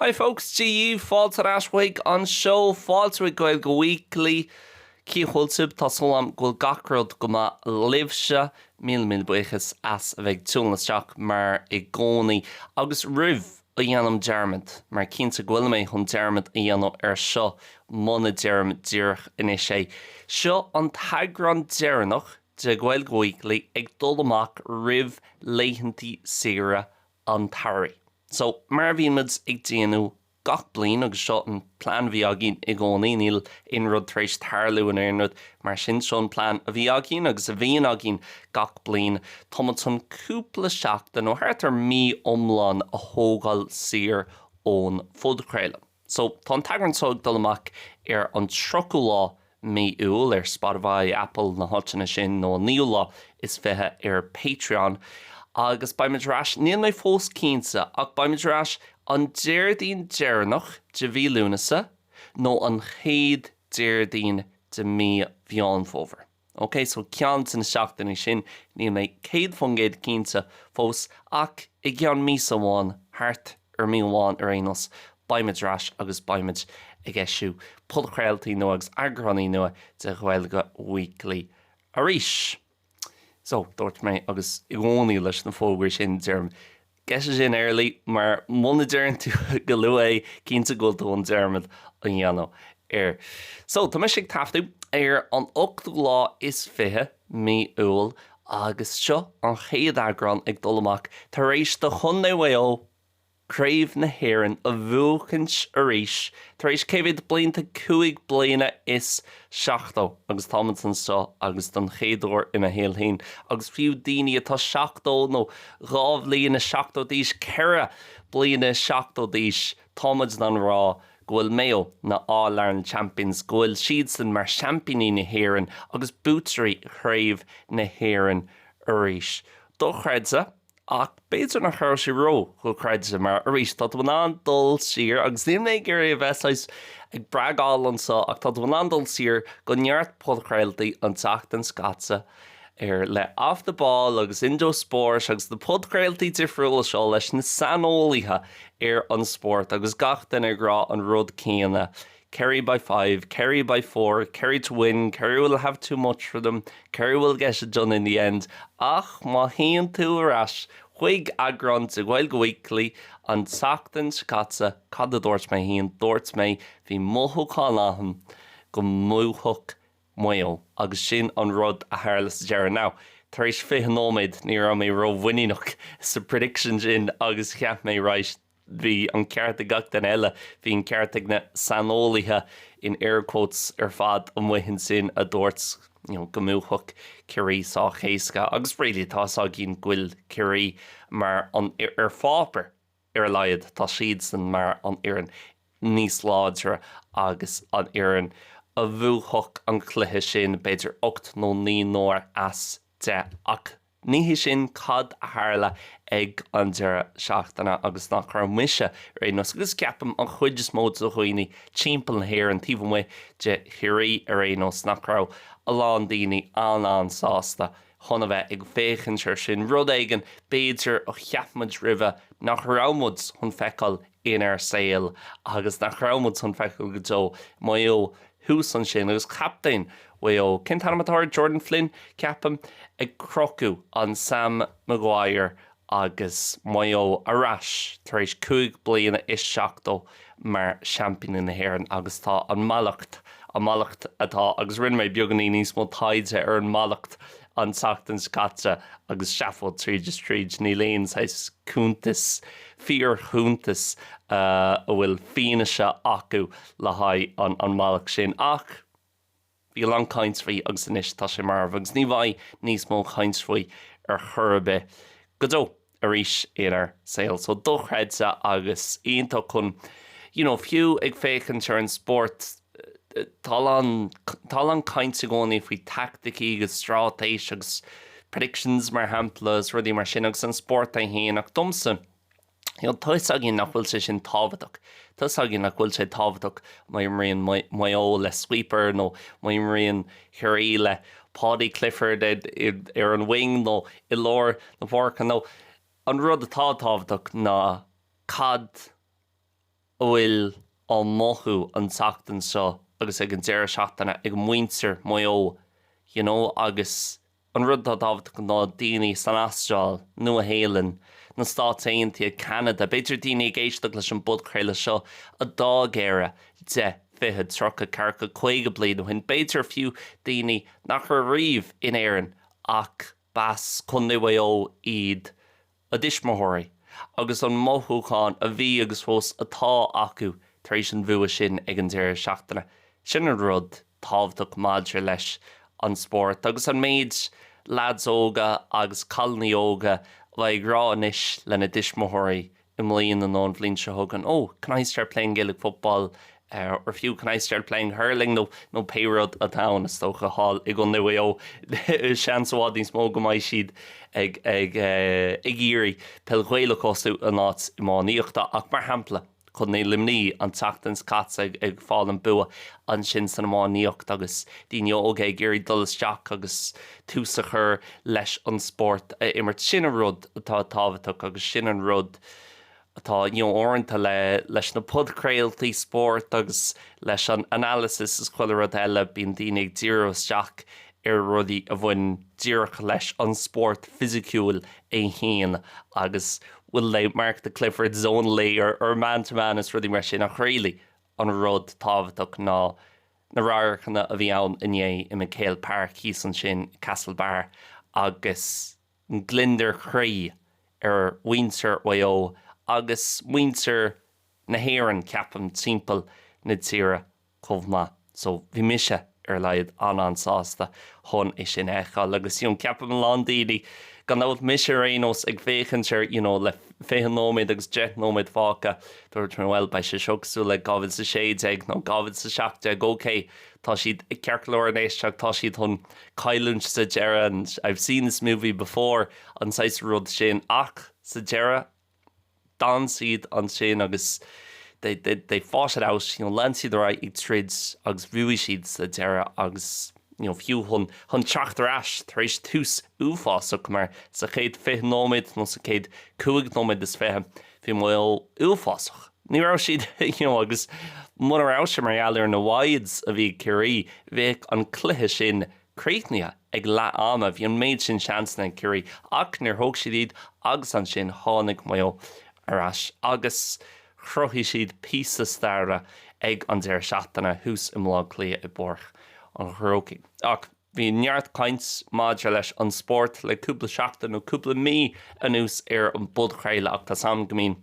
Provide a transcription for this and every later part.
Hi folks, GU, fáilte ar ais chuig an seó, fáilte chuig Gaeilge Weekly. Cén chaoi a bhfuil sibh? Tá súil agam go bhfuil gach rud go maith libhse. Míle míle buíochas as a bheith ag tiúnadh isteach mar i gcónaí. Agus roimh a dhéanaim dearmad, mar cinnte go bhfuil mé chun dearmad a dhéanamh ar seo muna deirim díreach anois é, seo an t-eagrán deireanach de Gaeilge Weekly ag dul amach roimh laethantaí saoire an tsamhraidh. So, mar a bhíonn muid ag déanamh gach bliain, agus seo an plean a bhí againn i gcónaí, níl aon rud tar éis tarlú nó aon rud mar sin, seo an plean a bhí againn agus a bhíonn againn gach bliain, tá muid chun cúpla seachtain nó thart ar mí iomlán a thógáil saor ón phodchraoladh. So, tá an t-eagrán seo ag dul amach ar an 30ú lá mí Iúil ar Spotify, Apple, na háiteanna sin, nó an 9ú lá is 20 ar Patreon. Agus beimid ar ais, níl mé fós cinnte, ach beimid ar ais an Déardaoin deireanach de mhí Lúnasa, nó an chéad Déardaoin de mí Mheán Fómhair. OK, so ceann de na seachtainí sin, níl mé 100% cinnte fós, ach i gceann míosa amháin, thart ar mí amháin ar aon nós, beidh muid ar ais agus beidh muid ag eisiú podchraoltaí nua agus eagráiní nua de Ghaeilge Weekly arís. So, dúirt mé, agus i gcónaí leis na fógraí sin, deirim Get it in early, mar muna deireann tú go luath é, cinnte go bhfuil tú chun dearmad a dhéanamh air. So, tá mise ag taifeadadh ar an ochtú lá is fiche mí Iúil agus seo an chéad eagrán ag dul amach tar éis do Chondae Mhaigh Eo Craobh na hÉireann a bhuachaint arís tar éis cé mhéad blianta? Cúig bliana is. 70 agus táimid anseo agus don chéad uair i mo shaol féin agus fiú daoine atá seachtó nó dhá bhliain is seachtó d'aois, ceithre bliana is seachtó d'aois, táimid in ann rá go bhfuil Mayo, na All Ireland Champions, go bhfuil siadsan mar seaimpíní na hÉireann agus buaiteoirí chraobh na hÉireann arís. Dochreidte. Ach b'fhéidir nach raibh sé ró-dhochreidte, mar arís, tá tú in ann dul siar, agus níl mé ag iarraidh a bheith saghas ag bragháil anseo, ach tá tú in ann dul siar go neart podchraoltaí an tseachtain seo caite ar le Off The Ball agus Indo Sport agus na podchraoltaí difriúla seo leis na saineolaithe ar an spórt agus gach duine ag rá an rud céanna, Kerry by five, Kerry by four, Kerry to win, Kerry will have too much for them, Kerry will get it done in the end Ach má théann tú ar ais chuig eagrán de Gaeilge Weekly an tseachtain seo caite, cad a dúirt mé fhéin? Dúirt mé, bhí mothúchán agam go mbuafadh Maigh Eo agus sin an rud a tharla sa deireadh. Now, tar éis 20 nóiméad ní raibh mé ró-mhuiníneach sa prediction sin agus cheap mé, right, bhí an ceart ag gach duine eile, bhí an ceart ag na saineolaithe in air quotes ar fad amuigh ansin a dúirt you know go mbuafadh Ciarraí sách éasca agus really tá a fhios againn go bhfuil Ciarraí mar an ar pháipéar ar a laghad tá siadsan mar an fhoireann níos láidre agus an fhoireann a bhuafadh an cluiche sin b'fhéidir ocht nó naoi n-uaire as deich ach Ní hé sin cad a tharla ag an deireadh seachtaine agus nach raibh mise ar aon nós, agus ceapaim an chuid is mó de dhaoine timpeall na hÉireann, taobh amuigh de Chiarraí ar aon nós, nach raibh a lán daoine an-an-sásta chun a bheith ag féachaint air sin. Rud éigin, b'fhéidir, a cheap muid roimhe nach raibh muid chun feiceáil inár saol agus nach raibh muid chun feiceáil go deo. Maigh Eo thuas ansin agus captaen Mhaigh Eo, cén t-ainm atá air, Jordan Flynn, ceapaim, ag crochadh an Sam Maguire agus Maigh Eo ar ais tar éis cúig bliana is seachtó mar seaimpíní na hÉireann agus tá an mhallacht, an mhallacht atá, agus rinne mé beagainín níos mó taighde ar an mhallacht an tseachtain seo caite agus seafóid tríd is tríd. Níl aon saghas cuntas, fíorchuntas a bhfuil fianaise acu le haghaidh an mallacht sin. Ach bhí a lán caint faoi agus anois tá sé marbh agus ní bheidh níos mó caint faoi ar chor ar bith go deo. arís inár saol. So dochreidte agus iontach chun you know fiú ag féachaint ar an spórt tá a lán tá a lán caint i gcónaí faoi taicticí agus stráitéis agus predictions mar shampla is rudaí mar sin agus an spórt é féin ach domsa you know tá a fhios againn nach bhfuil sé sin tábhachtach tá a fhios againn nach bhfuil sé tábhachtach má imríonn Maigh Eo le sweeper nó má imríonn Chiarraí le Paudie Clifford ar an wing nó i lár na páirce nó an rud atá tábhachtach ná cad a bhfuil á mothú an tseachtain seo agus ag an deireadh seachtaine ag muintir Maigh Eo you know agus An rud atá tábhachtach ná daoine san Astráil, Nua-Shéalainn, na Stáit Aontaithe, Ceanada, b'fhéidir daoine ag éisteacht leis an bpodchraoladh seo a d'fhág Éire deich, fiche, tríocha, ceathracha, caoga bliain ó shin, b'fhéidir fiú daoine nach raibh riamh in Éirinn ach b'as Condae Mhaigh Eo iad a dtuismitheoirí agus an mothúchán a bhí agus fós atá acu tar éis an bhua sin ag an deireadh seachtaine. Sin an rud tábhachtach maidir leis an spórt agus an méid lads óga agus cailiní óga a bheidh ag rá anois lena dtuismitheoirí i mbliana nó an bhliain seo chugainn, 'Oh, can I start playing Gaelic football or fiú Can I start playing hurling? nó pé rud atá ann. Is dócha thall i gCondae Mhaigh Eo seans i bhfad níos mó go mbeidh siad ag iarraidh peil Ghaelach a thosú in áit iománaíochta ach mar shampla Condae Luimní an tseachtain seo caite ag fáil an bua ansin san iománaíocht agus daoine óga ag iarraidh dul isteach agus tús a chur leis an spórt a imirt. Sin an rud atá tábhachtach agus sin an rud atá teoranta leis na podchraoltaí spóirt agus leis an analysis is chuile rud eile, bíonn daoine ag díriú isteach ar rudaí a bhain díreach leis an spórt fisiciúil é féin agus will they mark the Clifford zone lay or or man to man is rudaí mar sin ach really an rud tábhachtach ná na radharcanna a bhí ann inné i McHale Park thíos ansin i Castlebar agus gliondar croí ar mhuintir Mhaigh Eo agus muintir na hÉireann, ceapaim, timpeall na tíre chomh maith. So, bhí mise, ar a laghad, an-an-sásta chun é sin a fheiceáil agus, you know, ceapaim a lán daoine, gan dabht, mise ar aon nós, ag féachaint ar, you know, le fiche nóiméad agus deich nóiméad fágtha, dúirt, bhuel, beidh sé seo cosúil le dhá mhíle is a sé déag nó dhá mhíle is a seacht déag, okay, tá siad ceart go leor in éisteacht, tá siad chun. cailliúint sa deireadh, I've seen this movie before, an saghas rud sin, ach sa deireadh, d'fhan siad ansin agus they, they, they fought it out, you know, lean siad ar aghaidh ag troid agus bhuaigh siad sa deireadh agus you know, fiú chun, chun teacht ar ais tar éis tús uafásach mar sa chéad fiche nóiméad nó sa chéad cúig nóiméad is fiche, bhí Maigh Eo uafásach. Ní raibh siad, you know, agus muna raibh sé mar gheall ar na Wides a bhí ag Ciarraí, bheadh an cluiche sin críochnaithe ag leath ama. Bhí an méid sin seansanna ag Ciarraí ach níor thóg siad iad agus ansin tháinig Maigh Eo ar ais agus chruthaigh siad píosa staire ag an deireadh seachtaine thuas i mBlá Cliath i bPáirc an Chrócaigh. Ach bhí neart caint maidir leis an spórt le cúpla seachtain nó cúpla mí anuas ar an bpodchraoladh ach tá 'sam go mbíonn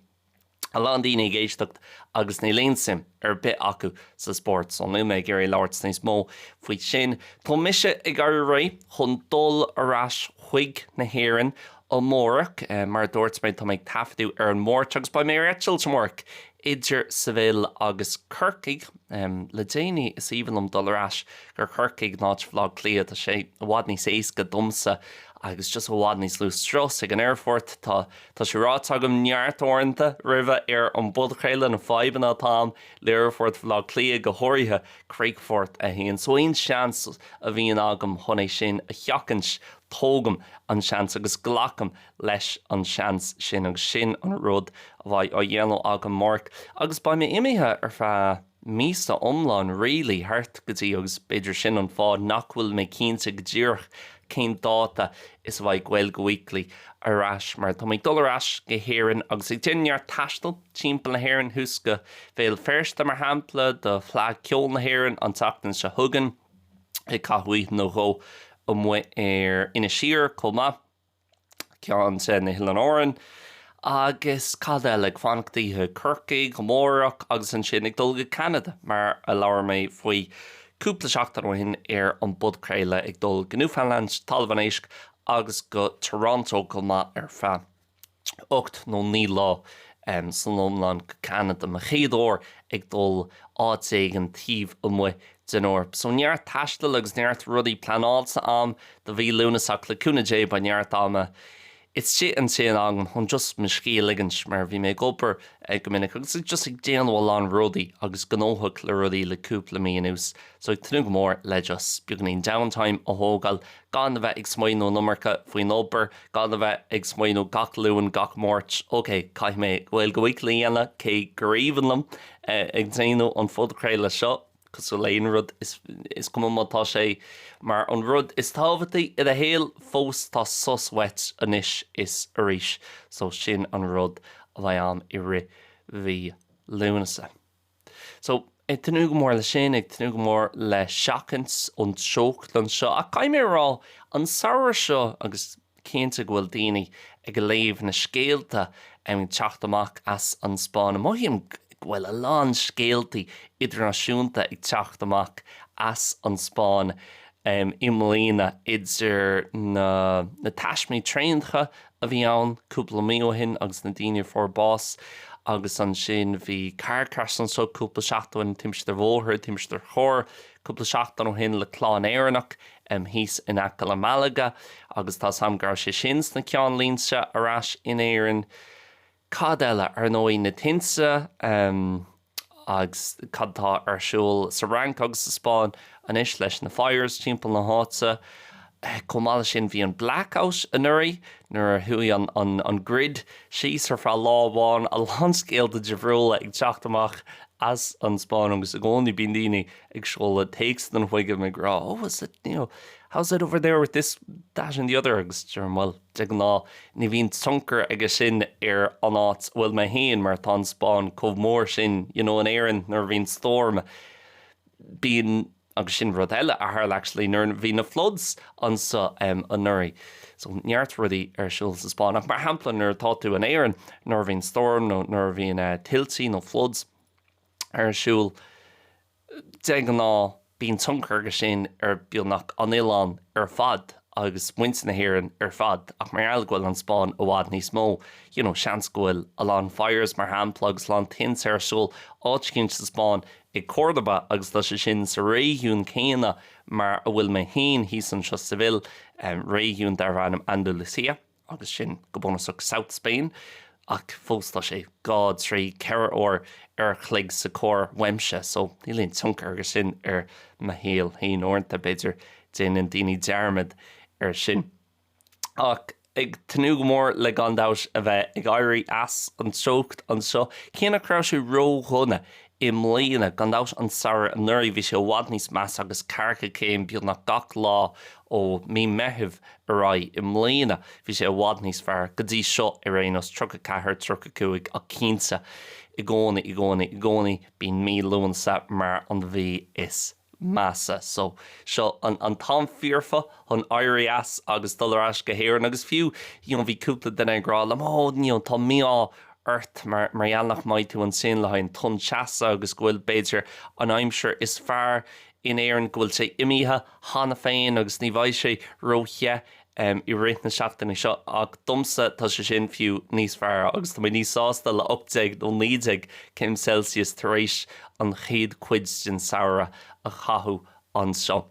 a lán daoine ag éisteacht agus níl aon suim ar bith acu sa spórt so níl mé ag iarraidh labhairt níos mó faoi sin. Tá mise ag éirí réidh chun dul ar ais chuig na hÉireann amárach. Mar a dúirt mé tá mé ag taifeadadh ar an Mháirt agus beidh mé ar eitilt amárach idir Seville agus Corcaigh. Le déanaí is aoibhinn liom dul ar ais go Corcaigh in áit Bhaile Átha Cliath. Tá sé i bhfad níos éasca domsa agus just i bhfad níos lú strus ag an aerfort. Tá. Tá sé ráite agam neart uaireanta roimhe ar an bpodchraoladh na fadhbanna atá ann le hAerfort Bhaile Átha Cliath go háirithe, Críochfort 1, so aon seans a bhíonn agam chun é sin a sheachaint, tógaim an seans agus glacaim leis an seans sin agus sin an rud a bheidh á dhéanamh agam amárach agus beidh mé imithe ar feadh. míosa iomlán really, thart go dtí, agus b'fhéidir sin an fáth nach bhfuil mé cinnte go díreach cén dáta is a bheidh Gaeilge Weekly ar ais mar tá mé ag dul ar ais go hÉirinn agus ag déanamh neart taistil timpeall na hÉireann, thuas go Bhéal Feirste mar shampla do Fleadh Ceoil na hÉireann an tseachtain seo chugainn, ag caitheamh oíche nó dhó amuigh ar Inis Oírr chomh maith. ceann de na hOileáin Árann agus cad eile, ag fanacht oíche i gCorcaigh amárach agus ansin ag dul go Ceanada mar a labhair mé faoi cúpla seachtain ó shin ar an bpodchraoladh, ag dul go Newfoundland, Talamh an Éisc agus go Toronto chomh maith ar feadh ocht nó naoi lá san iomlán go Ceanada, mo chéad uair ag dul áit éigin taobh amuigh den Eoraip. So neart taistil agus neart rudaí pleanáilte a'm do mhí Lúnasa ach le cúnamh Dé beidh neart ama istigh ansin agam chun just mo scíth a ligint mar bhí mé ag obair go minic agus just ag déanamh a lán rudaí agus gnóthach le rudaí le cúpla mí anuas. So ag tnúth go mór le just beagainín downtime a thógáil gan a bheith ag smaoineamh an iomarca faoin obair, gan a bheith ag smaoineamh gach Luan, gach Máirt, ok, caithfidh mé Gaeilge Weekly a dhéanamh, cé gur aoibhinn liom ag déanamh an phodchraoladh seo, cosúil le haon rud, is cuma má tá sé mar an rud is tábhachtaí i do shaol, fós tá sos uait anois is arís, so sin an rud a bheidh ann i rith mhí Lúnasa. So, ag tnúth go mór le sin, ag tnúth go mór le seachaint an teocht anseo. Ach caithfidh mé a rá, an samhradh seo, agus cinnte go bhfuil daoine ag léamh na scéalta ag teacht amach as an Spáinn, mothaím go bhfuil a lán scéaltaí idirnáisiúnta ag teacht amach as an Spáinn i mbliana, idir na taismí traenacha a bhí ann cúpla mí ó shin agus na daoine a fuair bás agus ansin bhí car crash anseo cúpla seachtain ó shin timpiste bhóthair, timpiste chairr cúpla seachtain ó shin le clann Éireannach em thíos in aice le Malaga agus tá a fhios a'm go raibh sé sin sna ceannlínte ar ais in Éirinn Cad eile, ar ndóigh, na tinte agus cad atá ar siúl sa Fhrainc agus sa Spáinn anois leis na fires timpeall na háite. Chomh maith leis sin, bhí an blackout anuraidh nuair a chuaigh an grid síos ar feadh lá amháin. A lán scéalta difriúla ag teacht amach as an Spáinn agus i gcónaí bíonn daoine ag seoladh téacsanna chugam ag rá, oh, is it, you know, how's it over there with this, that and the other agus deirim, bhuel, De ghnáth, ní bhíonn tionchar aige sin ar an áit a bhfuil mé féin mar tá an Spáinn chomh mór sin, you know in Éirinn nuair a bhíonn storm, bíonn, agus sin rud eile a tharla actually, nuair a bhí na floods anseo em anuraidh, so neart rudaí ar siúl sa Spáinn ach mar shampla nuair atá tú in Éirinn, nuair a bhíonn storm nó nuair a bhíonn eh tuiltí nó floods ar siúl, De ghnáth, bíonn tionchar aige sin ar bheagnach an oileán ar fad agus muintir na hÉireann ar fad ach mar gheall go bhfuil an Spáinn i bhfad níos mó, you know, seans go bhfuil a lán fires, mar shampla, agus a lán tinte ar siúl áit eicínt sa Spáinn, i gCórdoba agus tá sé sin sa réigiún céanna mar a bhfuil mé féin thíos anseo, Seville, réigiún darb ainm Andalucía. agus sin go bunúsach South Spain, ach fós tá sé dhá, trí, ceithre uair an chloig sa charr uaimse, so níl aon tionchar aige sin ar mo shaol féin uaireanta, b'fhéidir, déanann daoine dearmad air sin. Ach ag tnúth go mór le gan dabht a bheith ag éirí as an teocht anseo, cé nach raibh sé ródhona i mbliana. Gan dabht, an samhradh anuraidh, bhí sé i bhfad níos measa agus ceathracha céim beagnach gach lá ó mí Meithimh ar aghaidh. I mbliana, bhí sé i bhfad níos fearr, go dtí seo ar aon nós, tríocha a ceathair, tríocha a cúig ach cinnte, i gcónaí, i gcónaí, i gcónaí, bíonn mí Lúnasa mar an mhí is. measa. So, seo an t-am foirfe chun éirí as agus dul ar ais go hÉirinn agus fiú, you know, bhí cúpla duine ag rá liom, oh, you know, tá mí-ádh ort mar, mar gheall nach mbeidh tú ansin le haghaidh an tonn teasa agus go bhfuil, b'fhéidir, an aimsir is fearr in Éirinn, go bhfuil sé imithe cheana féin agus ní bheidh sé ró-the em, i rith na seachtaine seo ach domsa tá sé sin fiú níos fearr agus tá mé níos sásta le ocht déag nó naoi déag céim Celsius tar éis an chéad chuid den samhradh a chaitheamh anseo.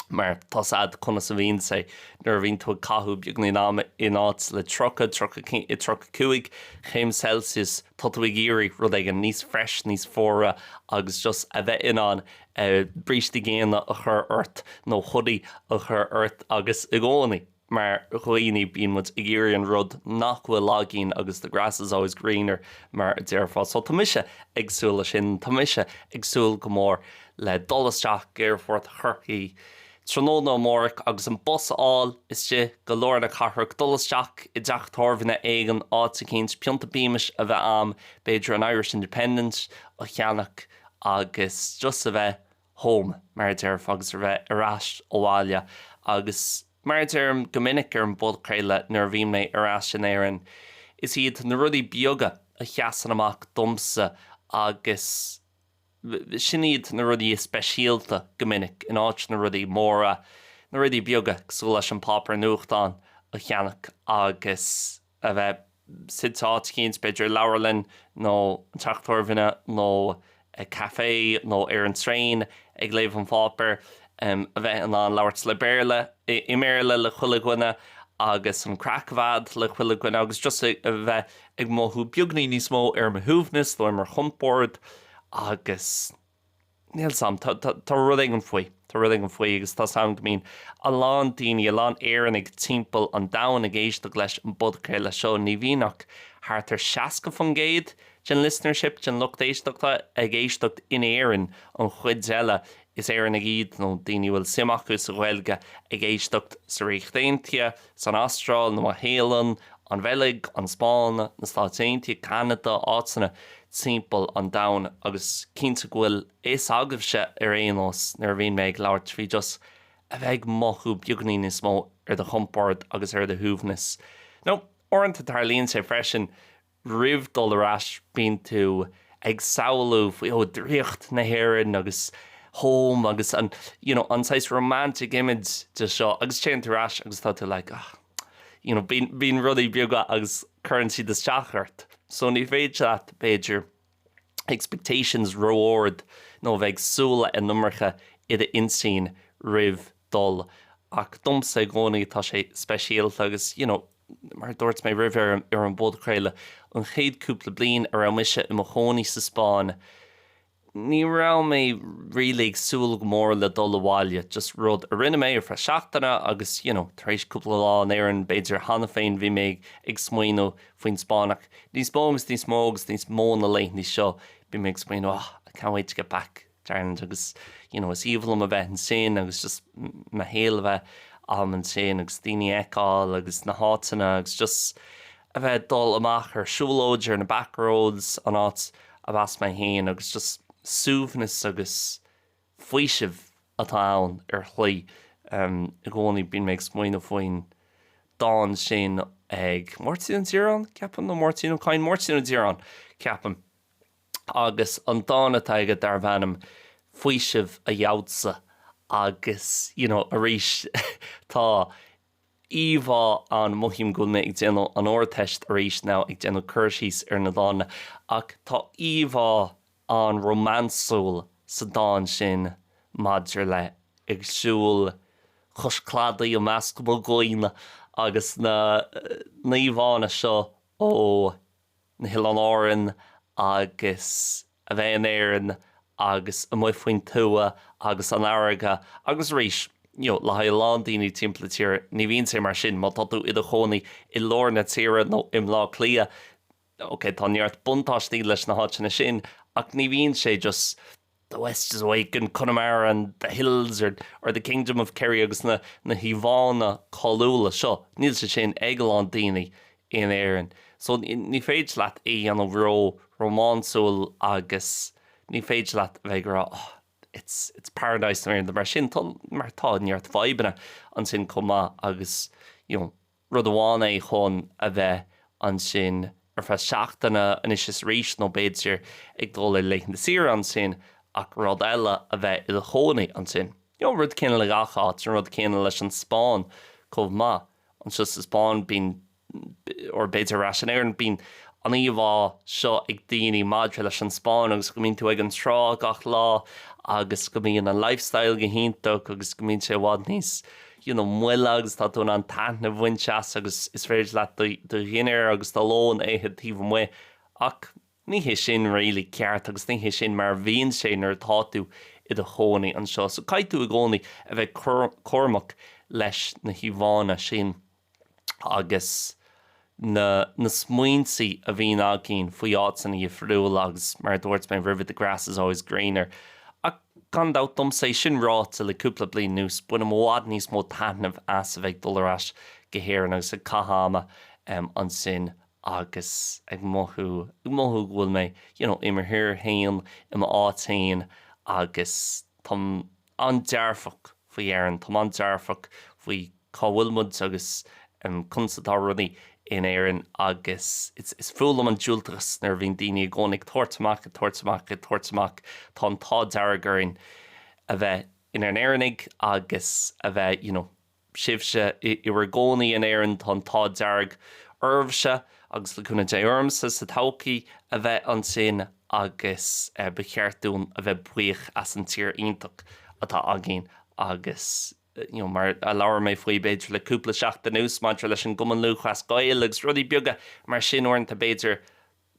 Mar tá 's a'd conas a bhíonn sé nuair a bhíonn tú ag caitheamh beagnín ama in áit le tríocha, tríocha céim, eh, tríocha cúig chéim Celsius tá tú ag iarraidh rud éigin níos fresh, níos fuaire agus just a bheith in ann, brístí géine a chur ort nó hoodie a chur ort agus i gcónaí mar dhaoine bíonn muid ag iarraidh an rud nach bhfuil againn agus the grass is always greener mar a déarfá so tá mise ag súil leis sin, tá mise ag súil go mór le dul isteach go aerfort Chorcaí tráthnóna amárach agus an bus a fháil istigh go lár na cathrach, dul isteach i dteach tábhairne éigin, áit eicínt, pionta Beamish a bheith a'm, b'fhéidir an Irish Independent a cheannach. agus just a bheith home, mar a déarfá, agus a bheith ar ais abhaile. Agus mar a deirim go minic ar an bpodchraoladh nuair a bhíonn mé ar ais in Éirinn, is iad na rudaí beaga a sheasann amach domsa agus sin iad na rudaí is speisialta go minic, in áit na rudaí móra, na rudaí beaga cosúil leis an páipéar nuachtáin a cheannach agus. a bheith suite áit eicínt, b'fhéidir i leabharlann nó an teach tábhairne nó i café nó ar an traein ag léamh an pháipéir, a bheith in ann labhairt le Béarla, i mBéarla le chuile dhuine agus an craic a bheith le chuile dhuine agus just a bheith ag mothú beagní níos mó ar mo shuaimhneas nó ar mo chompord agus. Níl 's am. Tá, tá, tá rud éigin faoi. Tá rud éigin faoi agus tá 's am go mbíonn a lán daoine, a lán Éireannach timpeall an domhain ag éisteacht leis an bpodchraoladh seo. Ní bhíonn ach thart ar 60% den listenership, den lucht éisteachta, ag éisteacht in Éirinn. An chuid eile, is Éireannaigh iad, nó daoine a bhfuil suim acu sa Ghaeilge, ag éisteacht sa Ríocht Aontaithe, san Astráil, Nua-Shéalainn, an Bheilg, an Spáinn, na Stáit Aontaithe, Ceanada, áiteanna timpeall an domhain, agus cinnte go bhfuil fhios agaibhse ar aon nós nuair a bhíonn mé ag labhairt faoi just a bheith ag mothú beagainín níos mó ar do chompord agus ar do shuaimhneas, nó uaireanta tarlaíonn sé freisin, Roimh dul ar ais, bíonn tú ag samhlú faoi, oh, draíocht na hÉireann agus home agus an, you know, an saghas romantic image de seo agus téann tú ar ais agus tá tú like, ah, you know, bíonn rudaí beaga agus cuireann siad isteach ort. So ní féidir leat, b'fhéidir, expectations ró-ard nó a bheith ag súil leis an iomarca i d'intinn roimh dul ach domsa i gcónaí tá sé speisialta agus you know mar a dúirt mé roimhe ar an bpodchraoladh, an chéad cúpla bliain a raibh mise i mo chónaí sa Spáinn ní raibh mé really ag súil go mór le dul abhaile, just rud a rinne mé ar feadh seachtaine agus you know tar éis cúpla lá in Éirinn b'fhéidir cheana féin bhí mé ag smaoineamh faoin Spáinn ach níos mó agus níos mó agus níos mó na laethanta seo bíonn mé ag smaoineamh oh, I can't wait to get back to Ireland agus you know is aoibhinn liom a bheith ansin agus just mo shaol a bheith a'm ansin agus daoine a fheiceáil agus na háiteanna agus just a bheith ag dul amach ar siúlóid ar na back roads an áit arb as mé féin agus just suaimhneas agus faoiseamh atá ann really. I gcónaí bíonn mé ag smaoineamh faoin dán sin ag Máirtín Ó Díreáin, ceapaim, nó Máirtín Ó Cadhain, Máirtín Ó Díreáin, ceapaim, agus an dán atá aige darbh ainm 'Faoiseamh a Gheobhadsa' agus, you know, arís tá íomhá ann, mothaím go bhfuil mé ag déanamh an Ardteist arís now, ag déanamh cur síos ar na dánna, ach tá íomhá an-rómánsúil sa dán sin maidir le 'ag siúl cois cladaigh i measc mo dhaoine' agus na híomhánna seo ó na hOileáin Árann agus a bheith in Éirinn agus amuigh faoin tuath agus an fharraige agus arís le haghaidh a lán daoine timpeall na tíre, ní bhíonn sé mar sin má tá tú i do chónaí i lár na tíre nó i mBleá Cliath. Now, okay, tá neart buntáistí leis na háiteanna sin ach ní bhíonn sé just The West is awake in Connemara and the hills or or the kingdom of Kerry agus na na híomhánna cáiliúla seo, níl sé sin ag a lán daoine in Éirinn. So, ní féidir leat é a dhéanamh ró rómánsúil agus ní féidir leat a bheith ag rá oh, it's it's paradise nó aon rud mar sin, tá mar tá neart fadhbanna ansin chomh maith agus, you know, rud amháin é chun a bheith ansin ar feadh seachtaine anois is arís nó b'fhéidir ag dul ar laethanta saoire ansin ach rud eile a bheith i do chónaí ansin. An rud céanna le gach áit, an rud céanna leis an Spáinn chomh maith. Anseo sa Spáinn bíonn, or b'fhéidir ar ais in Éirinn, bíonn an íomhá seo ag daoine maidir leis an Spáinn agus go mbíonn tú ag an trá gach lá agus go mbíonn an lifestyle go hiontach agus go mbíonn sé i bhfad níos you know, moille agus tá tú in ann taitneamh a bhaint as agus is féidir leat do dhinnéar agus do lón a ithe taobh amuigh ach ní hé sin really ceart agus ní hé sin mar a bhíonn sé nuair atá tú i do chónaí anseo. So caithfidh tú i gcónaí a bheith cúramach leis na híomhánna sin agus na na smaointe a bhíonn againn faoi áiteanna difriúla agus mar a dúirt mé roimhe the grass is always greener ach gan dabht domsa, é sin ráite, le cúpla bliain anuas bainim i bhfad níos mó taitnimh as a bheith ag dul ar ais go hÉirinn agus ag caitheamh ama ansin agus ag mothú, ag mothú go bhfuil mé, you know, i mo thír féin, i m'áit féin agus tá. an-dearfach faoi Éirinn, táim an-dearfach faoi cá bhfuil muid agus conas atá rudaí in Éirinn agus is fuath liom an diúltachas nuair a bhíonn daoine i gcónaí ag tabhairt amach, ag tabhairt amach, ag tabhairt amach. Tá an t-ádh dearg orainn a bheith inár nÉireannaigh agus a bheith, you know. sibhse i bhur gcónaí in Éirinn, tá an t-ádh dearg oraibhse, agus le cúnamh Dé ormsa sa todhchaí, a bheith ansin agus ba cheart dúinn a bheith buíoch as an tír iontach atá againn agus you know mar a labhair mé faoi b'fhéidir le cúpla seachtain anuas maidir leis an gCumann Lúthchleas Gael agus rudaí beaga mar sin uaireanta b'fhéidir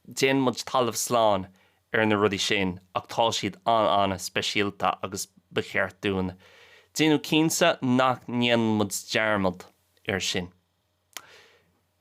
Déanann muid talamh slán ar na rudaí sin ach tá siad an-an-speisialta agus ba cheart dúinn déanamh cinnte nach ndéanann muid dearmad air sin.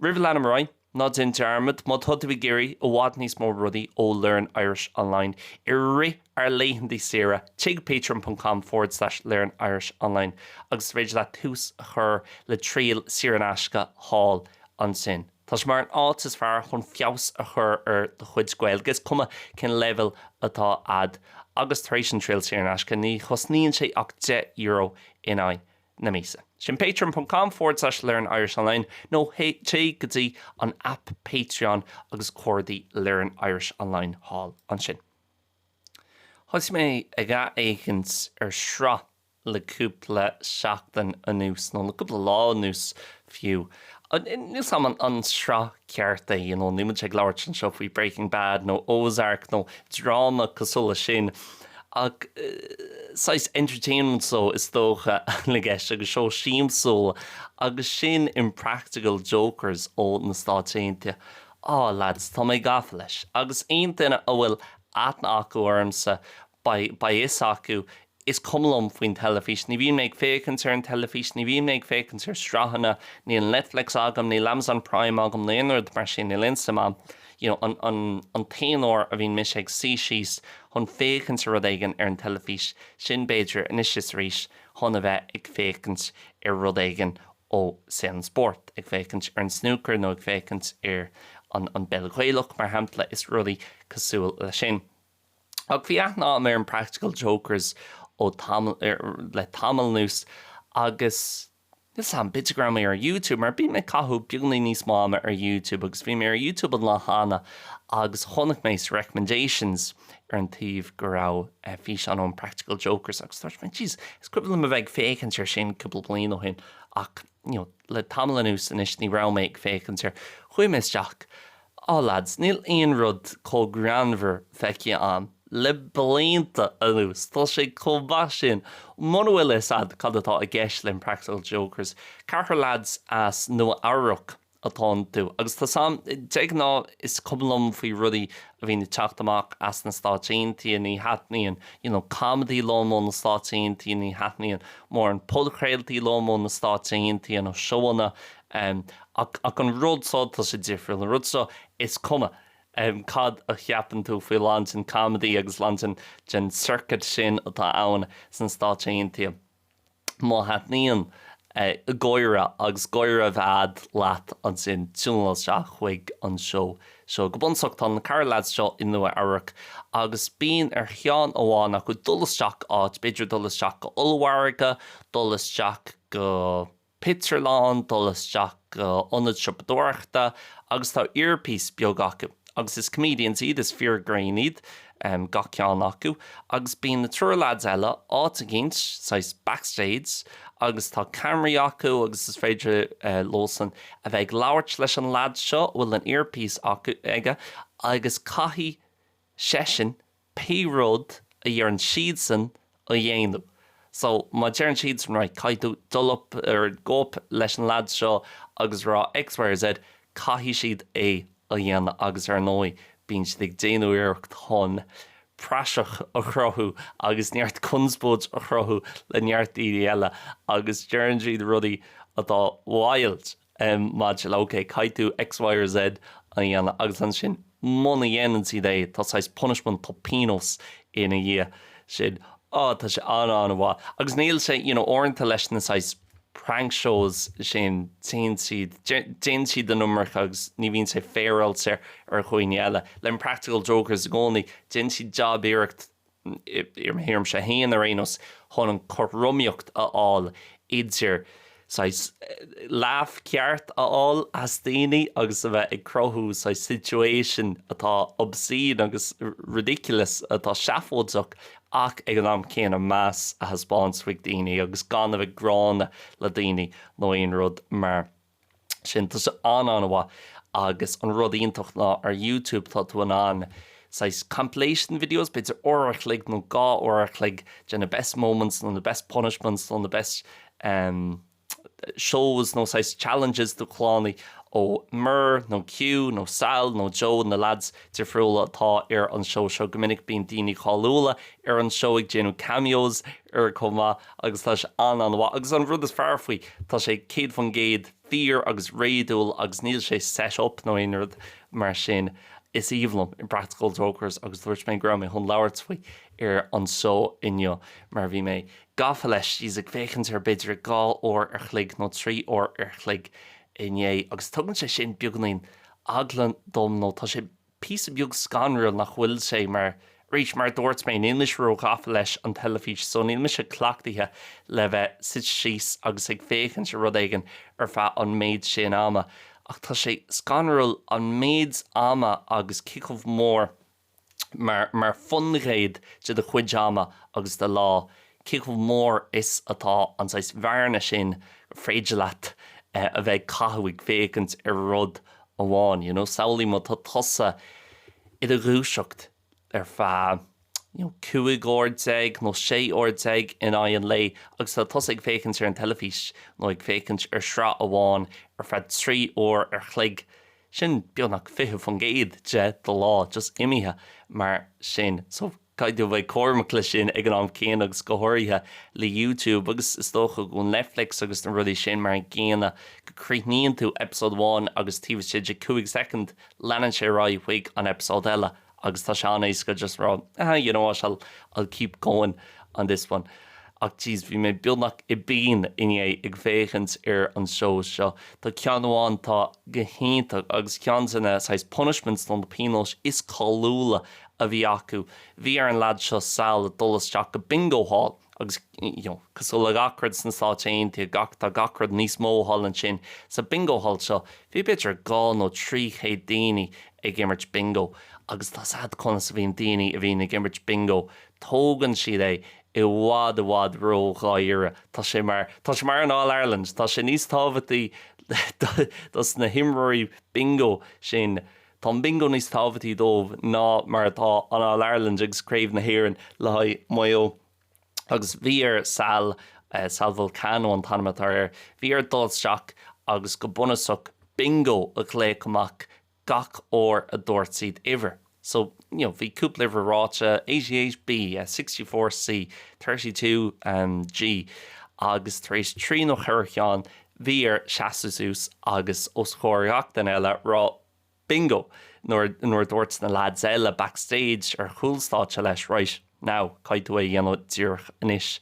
Roimh a leanann muid ar aghaidh, ná déan dearmad, má tá tú ag iarraidh i bhfad níos mó rudaí ó Learn Irish Online i rith ár laethantaí saoire, téigh go patreon.com forward slash learnirishonline agus is féidir leat tús a chur le triail saor in aisce thall ansin. Tá sé mar an áit is fearr chun feabhas a chur ar do chuid Gaeilge, is cuma cén leibhéal atá ad, agus tar éis an triail saor in aisce, ní chosnaíonn sé ach deich euro in aghaidh na míosa. Sin patreon.com forward slash learnirishonline nó téigh go dtí an aip Patreon agus cuardaigh Learn Irish Online thall ansin. Thosaigh mé ag ath-fhéachaint ar sraith le cúpla seachtain anuas, nó le cúpla lá anuas fiú. Níl 's a'm an an sraith ceart é, you know, níl muid ag labhairt anseo faoi Breaking Bad nó Ozark nó dráma cosúil leis sin ach saghas entertainment show is dócha atá i gceist agus seó siamsúil agus sin Impractical Jokers ó na Stáit Aontaithe. Á, lads, tá mé gafa leis agus aon duine a bhfuil aithne acu ormsa, beidh a fhios acu, is cuma liom faoin teilifís, ní bhíonn mé ag féachaint ar an teilifís, ní bhíonn mé ag féachaint ar sraitheanna, níl Netflix agam, níl Amazon Prime agam nó aon rud mar sin, níl a fhios agam, you know, an t-aon uair a bhíonn mise ag suí síos chun féachaint ar rud éigin ar an teilifís, sin b'fhéidir anois is arís chun a bheith ag féachaint ar rud éigin ó saol an spóirt, ag féachaint ar an snúcar nó ag féachaint ar an bpeil Ghaelach mar shampla is rudaí cosúil leis sin. Ach bhí aithne agam ar Impractical Jokers ó tamall, le tamall anuas, agus níl 's a'm, píosa, go raibh mé ar YouTube, mar bíonn mé ag caitheamh beagáinín níos mó ama ar YouTube, agus bhí mé ar YouTube an lá cheana agus chonaic mé sa Recommendations ar an taobh go raibh físeán ó Impractical Jokers agus dúirt mé, Jeez, is cuimhin liom a bheith ag féachaint air sin cúpla bliain ó shin, ach, you know, le tamall anuas anois ní raibh mé ag féachaint air. Chuaigh mé isteach. Á, leaids, níl aon rud chomh greannmhar feicthe agam le blianta anuas. Tá sé chomh maith sin. Muna bhfuil a fhios agat cad atá i gceist le Impractical Jokers, ceathrar leaids as Nua-Eabhrac atá iontu, agus tá 's a'm, de ghnáth, is cuma liom faoi rudaí a bhíonn ag teacht amach as na Stáit Aontaithe, ní thaitníonn, you know, comedy liom ó na Stáit Aontaithe, ní thaitníonn mórán podchraoltaí liom ó na Stáit Aontaithe, nó seóanna, Em, ach, ach an rud so, tá sé difriúil, an rud seo, is cuma, em, cad a cheapann tú faoi a lán den comedy agus a lán den, den circuit sin atá ann sna Stáit Aontaithe, má thaitníonn, eh, gáire agus gáire a bheith agat leat ansin tiúináil isteach chuig an seó seo. Go bunúsach, tá na ceithre lads seo i Nua Eabhrac agus bíonn ar cheann amháin acu dul isteach áit, b'fhéidir dul isteach go ollmhargadh, dul isteach go. pictiúrlann, dul isteach go ionad siopadóireachta agus tá earpiece beag acu agus is comedians iad, is fir ghrinn iad gach ceann acu agus bíonn na triúr lads eile áit eicínt, saghas backstage agus tá cameraí acu agus is féidir leosan a bheith ag labhairt leis an lad seo a bhfuil an earpiece acu, aige agus caithfidh seisean pé rud a dheireann siadsan a dhéanamh. So, má deireann siadsan, right, caithfidh tú dul up nó go up leis an lad seo agus rá X, Y or Z, caithfidh siad é a dhéanamh agus ar ndóigh bíonn siad ag déanamh iarracht chun praiseach a chruthú agus neart conspóid a chruthú le neart daoine eile agus deireann siad rudaí atá wild. maidir le, OK, caithfidh tú X, Y or Z a dhéanamh agus ansin muna dhéanann siad é tá saghas punishment, tá pionós ina dhiaidh sin. Á, tá sé an-an-mhaith. Agus níl sé, you know, uaireanta leis na saghas prank shows sin téann siad, déanann siad an iomarca agus ní bhíonn sé féaráilte ar dhaoine eile. Leis an Impractical Jokers i gcónaí, déanann siad jab iarracht i mo thuairimse féin ar aon nós, chun an cothromaíocht a fháil idir saghas laugh ceart a fháil as daoine agus a bheith ag cruthú saghas situation atá obscene agus ridiculous, atá seafóideach ach ag an am céanna meas a thaispeáint chuig daoine agus gan a bheith gránna le daoine nó aon rud mar sin. Tá sé an-an-mhaith agus an rud iontach ná ar YouTube tá tú in ann saghas compilation videos, b'fhéidir uair a chloig nó dhá uair a chloig de na best moments nó na best punishments nó na best em shows nó saghas challenges de chlannaí ó Murr nó Q nó Sal nó Joe na lads, difriúla atá ar an seó seo. Go minic bíonn daoine cáiliúla ar an seó ag déanamh cameos air chomh maith agus tá sé an-an-mhaith. Agus an rud is fearr faoi, tá sé 100% fíor agus réadúil agus níl sé set up nó aon rud mar sin. Is aoibhinn liom Impractical Jokers agus dúirt mé go raibh mé chun labhairt faoi ar an seó inniu mar bhí mé gafa leis, jeez, ag féachaint air b'fhéidir dhá uair an chloig nó trí uair an chloig inné agus tugann sé sin beagáinín eagla dom nó tá sé píosa beag scanrúil nach bhfuil sé, mar arís, mar a dúirt mé, níl mise róghafa leis an teilifís so níl mise cleachtaithe le bheith suite síos agus ag féachaint ar rud éigin ar feadh an méid sin ama ach tá sé scanrúil an méid ama agus cé chomh mór mar faoin gcéad de do chuid ama agus do lá, cé chomh mór is atá an saghas bhearna sin gur féidir leat a bheith ag caitheamh ag féachaint ar rud amháin, you know. Samhlaigh má tá tusa i do dhúiseacht ar feadh, you know, 15 uair nó 16 uair in aghaidh an lae agus tá tusa ag féachaint ar an teilifís nó ag féachaint ar shraith amháin ar feadh 3 uair an chloig, Sin beagnach 20% de do lá just imithe mar sin. So, caithfidh tú a bheith cúramach leis sin ag an am céanna agus go háirithe le YouTube agus is dócha go bhfuil Netflix agus na rudaí sin mar an gcéanna, go gcríochnaíonn tú eipeasóid one agus taobh istigh de 5 soicind leanann sé ar aghaidh chuig an eipeasóid eile. agus tá sé an-éasca just a rá ah you know what I'll keep going on this one ach jeez bhí mé beagnach i bpian inné ag féachaint ar an seó seo. Tá ceann amháin atá go hiontach agus ceann de na saghas punishments nó na pionóis is cáiliúla a bhí acu. Bhí ar an leaid seo Sal dul isteach go Bingo Hall. agus cosúil le gach rud sna Stáit Aontaithe, tá gach rud níos mó thall ansin. Sa Bingo Hall seo, bhí b'fhéidir dhá nó trí chéad duine ag imirt Bingo, agus tá a fhios agat conas a bhíonn daoine a bhíonn ag imirt Bingo, tógann siad é i bhfad i bhfad ródháiríre. Tá sé mar, tá sé mar an All Ireland, tá sé níos tábhachtaí dos na himreoirí Bingo sin, Tá an Bingo níos tábhachtaí dóibh ná mar atá an All-Ireland agus Craobh na hÉireann le haghaidh Maigh Eo. Agus bhí ar Sal, Sal Vulcano an t-ainm atá air, bhí air dul isteach agus go bunúsach Bingo a ghlaoch amach gach uair a dúirt siad uimhir. So, you know, bhí cúpla uimhir ráite, eighty eight B, sixty four C, thirty two G agus tar éis trí nó cheithre cheann bhí air seasamh suas agus os comhair gach duine eile rá Bingo! nuair a dúirt na leaids eile backstage, ar chúl stáitse, leis Right, now, caithfidh tú é a dhéanamh díreach anois.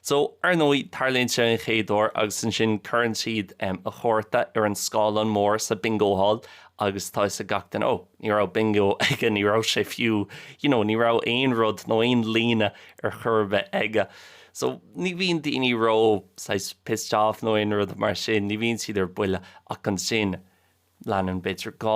So, ar ndóigh, tarlaíonn sé an chéad uair agus ansin cuireann siad a chárta ar an scáileán mór sa Bingo Hall agus tá a fhios ag gach duine Oh, ní raibh Bingo aige, ní raibh sé fiú, you know, ní raibh aon rud nó aon líne ar chor ar bith aige. So, ní bhíonn daoine ró, saghas, pissed off nó aon rud mar sin, ní bhíonn siad ar buile ach ansin leanann, b'fhéidir dhá,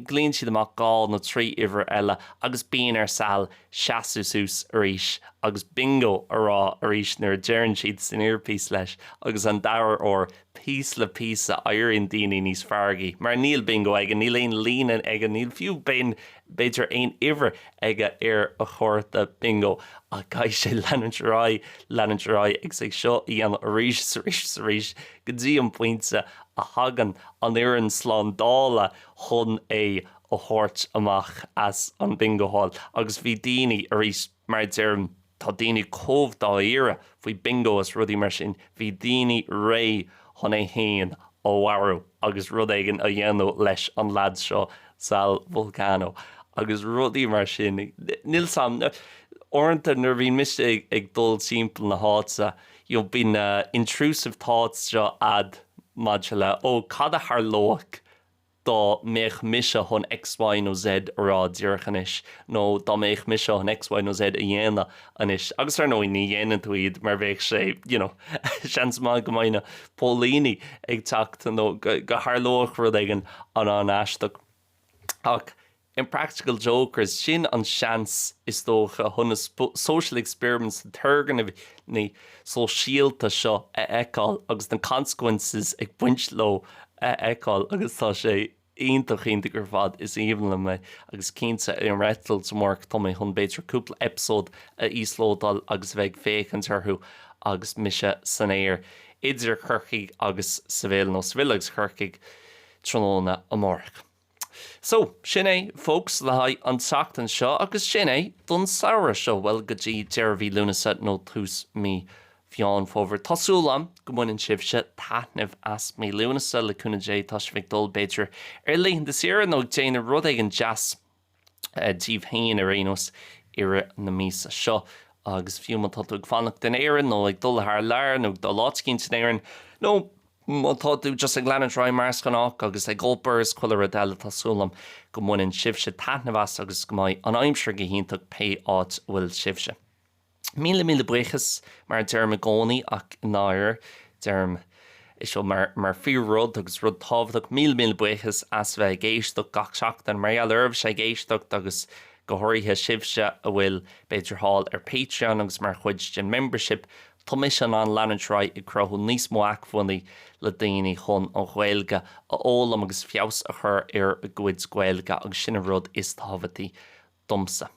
glaonn siad amach dhá nó trí uimhir eile agus bíonn ar Sal seasamh suas arís agus Bingo a rá arís nuair a deireann siad san earpiece leis agus an dara uair, píosa le píosa éiríonn daoine níos feargaí mar níl Bingo aige, níl aon líne aige, níl fiú bing b'fhéidir aon uimhir aige ar a chárta bingo ach caithfidh sé leanúint ar aghaidh, leanúint ar aghaidh agus é seo a dhéanamh arís is arís is arís go dtí an pointe a thagann an fhoireann slándála chun é a thabhairt amach as an bingo hall agus bhí daoine arís Mar a deirim, tá daoine chomh dáiríre faoi Bingo is rudaí mar sin, bhí daoine réidh chun é a mharú agus rud éigin a dhéanamh leis an leaid seo, Sal Vulcano, agus rudaí mar sin. Níl a fhios agam, uaireanta nuair a bhíonn mise ag dul timpeall na háite, you know, bíonn na intrusive thoughts seo agat maidir le, oh, cad a tharlódh, dá mbeadh mise chun X, Y nó Z a rá díreach anois, nó dá mbeadh mise chun X, Y nó Z a dhéanamh anois, agus ar ndóigh ní dhéanann tú iad mar bheadh sé, you know, seans maith go mbeidh na póilíní ag teacht nó go dtarlódh rud éigin an-aisteach. Ach. Impractical Jokers, sin an seans, is dócha, chun na social experiments, na turgnaimh sóisialta seo a fheiceáil agus na consequences ag baint leo a fheiceáil agus tá sé iontach, iontach ar fad. Is aoibhinn liom é agus cinnte ar an eitilt seo amárach atá mé chun b'fhéidir cúpla eipeasóid a íoslódáil agus a bheith ag féachaint orthu agus mise san aer idir Corcaigh agus Seville, nó Seville agus Corcaigh, tráthnóna amárach. So, sin é, folks, le haghaidh an tseachtain seo, agus sin é, don samhradh seo, bhuel, go dtí deireadh mhí Lúnasa nó tús mhí Mheán Fómhair. Tá súil agam go mbaineann sibhse taitneamh as mí Lúnasa, le cúnamh Dé, tá sibh ag dul, b'fhéidir, ar laethanta saoire nó ag déanamh rud éigin deas. daoibh féin ar aon nós i rith na míosa seo agus fiú má tá tú ag fanacht in Éirinn nó ag dul thar lear nó ag dul áit éicínt in Éirinn nó má tá tú just ag leanúint ar aghaidh mar is gnách agus ag obair is chuile rud eile tá súil agam go mbaineann sibhse taitneamh as agus go mbeidh an aimsir go hiontach pé áit a bhfuil sibhse. Míle míle buíochas, mar a deirim i gcónaí, ach i ndáirire, deirim é seo mar fíor-rud agus rud tábhachtach, míle míle buíochas as bheith ag éisteacht gach seachtain, mar gheall oraibhse ag éisteacht agus go háirithe sibhse a bhfuil, b'fhéidir, thall ar Patreon agus mar chuid den membership, tá mise in ann leanúint ar aghaidh ag cruthú níos mó acmhainní le daoine chun an Ghaeilge a fhoghlaim agus feabhas a chur ar a gcuid Gaeilge agus sin an rud is tábhachtaí domsa.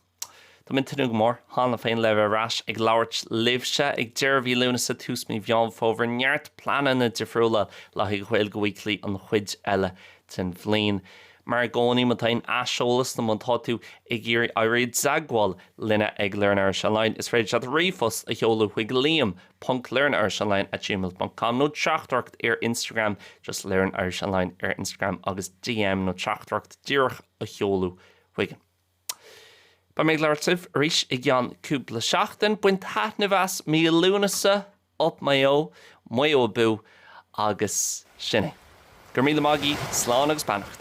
Táimid ag tnúth go mór cheana féin le bheith ar ais ag labhairt libhse ag deireadh mhí Lúnasa, tús mí Mheán Fómhair, neart pleananna difriúla le haghaidh Ghaeilge Weekly an chuid eile den bhliain. Mar i gcónaí, má tá aon aiseolas nó má tá tú ag iarraidh éirí i dteagmháil linne ag LearnIrishOnline, is féidir leat ríomhphost a sheoladh chuig liam ponc learnirishonline at gmail ponc com nó teachtaireacht ar Instagram, just LearnIrishOnline ar Instagram agus DM nó teachtaireacht díreach a sheoladh chuig. Beidh mé ag labhairt libh arís i gceann cúpla seachtain. Bain taitneamh as mí Lúnasa! Up Mayo! Maigh Eo abú! Agus sin é. Go raibh míle maith agaí, slán agus beannacht.